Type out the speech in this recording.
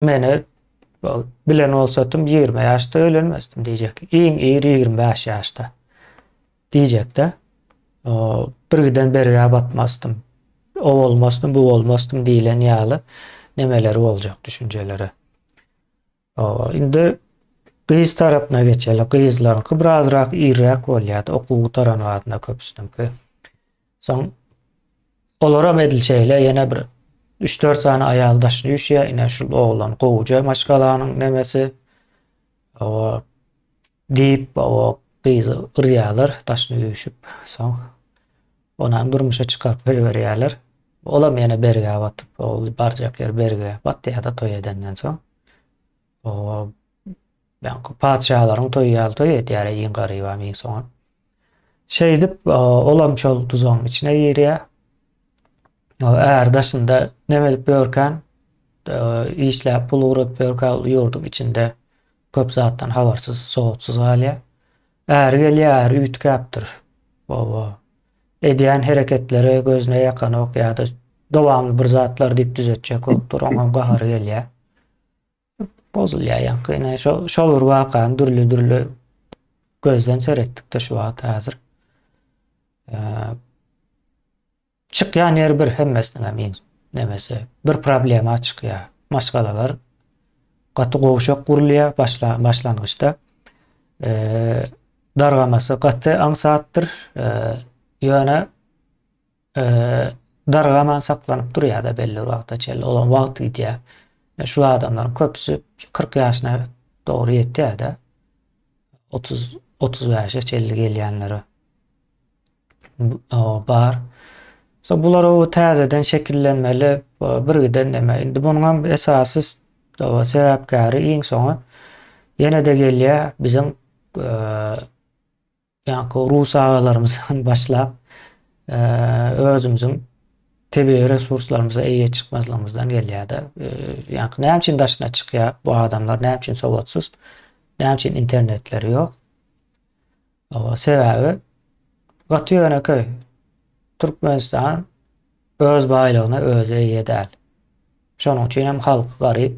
Meni bilen bolsatym ýigrimi ýaşda öýlenmezdim diýjek. Iň ir ýigrimi bäş ýaşda diýjek-de. Birgiden bergä batmazdym. O bolmasdym, bu bolmasdym diýlen ýaly nemeleri boljak düşünjeleri. Indi gyz tarapyna geçeli. Gyzlaryňky birazrak irräk bolýar-da, okuw gutaran badyna köpüsiniňki. Soň olaram edil şeýle ýene bir 3-4 sany aýal daşy düşýär. Ine şu oglan gowuja maşgalanyň nemesi. Owa diýip, owa gyzy urýarlar, daşyny üýşüp, soň onam durmuşa çykaryp goýberýärler. Olam ýene bergä batyp, ol barjak ýer berge batýar-da toý edenden soň. Ýaňky patyşalaryň toýy ýaly toý edýär-ä iň garybam, iň soňam. Şeýdip, olam şol duzagyň içine girýär. Är daşynda näme edip ýörkän, işläp pul ugradyp ýörkä ol ýurduň içinde köp zatdan habarsyz, sowatsyz galýar. Äri gelýär, äri üýtgäpdir. Oba. Edýän hereketleri gözüne ýakanok ýa-da dowamly bir zatlar diýip düzetjekokdyr, oňam gahary gelýär. Bozulýar ýaňky ine şo şol bir wakany dürli dürli gözden seretdikde şu wagt häzir. Çykýan ýer bir hemmesiniň hem in nemesi bir problema çykýar. Maşgalalar gaty gowşak gurulýar başla başlangyçda. Eee dargamasy gaty aňsatdyr. Eee ýöne Dargaman saklanyp durýar-da belli bir wagta çenli. Olam wagt gidýär. E, şu adamlaryň köpüsi 40 ýaşyna dogry ýetýär-de. 30 35-e çenli gelýänleri bar. So bular o täzeden şekillenmeli birgiden näme. Indi munuň hem esasy sebäpkäri iň soňy ýene-de gelýär biziň e, Ýaňky rus agalarymyzdan başlap, özümiziň tebigy resurslarymyza eýe çykmazlygymyzdan gelýär-de. Ýaňky näme üçin daşyna çykýar bu adamlar, näme üçin sowatsyz, näme üçin internetleri ýok? Oba, sebäbi gaty ýönekeý. Türkmenistan öz baýlygyna özi eýe däl. Şonuň üçin hem halky garyp,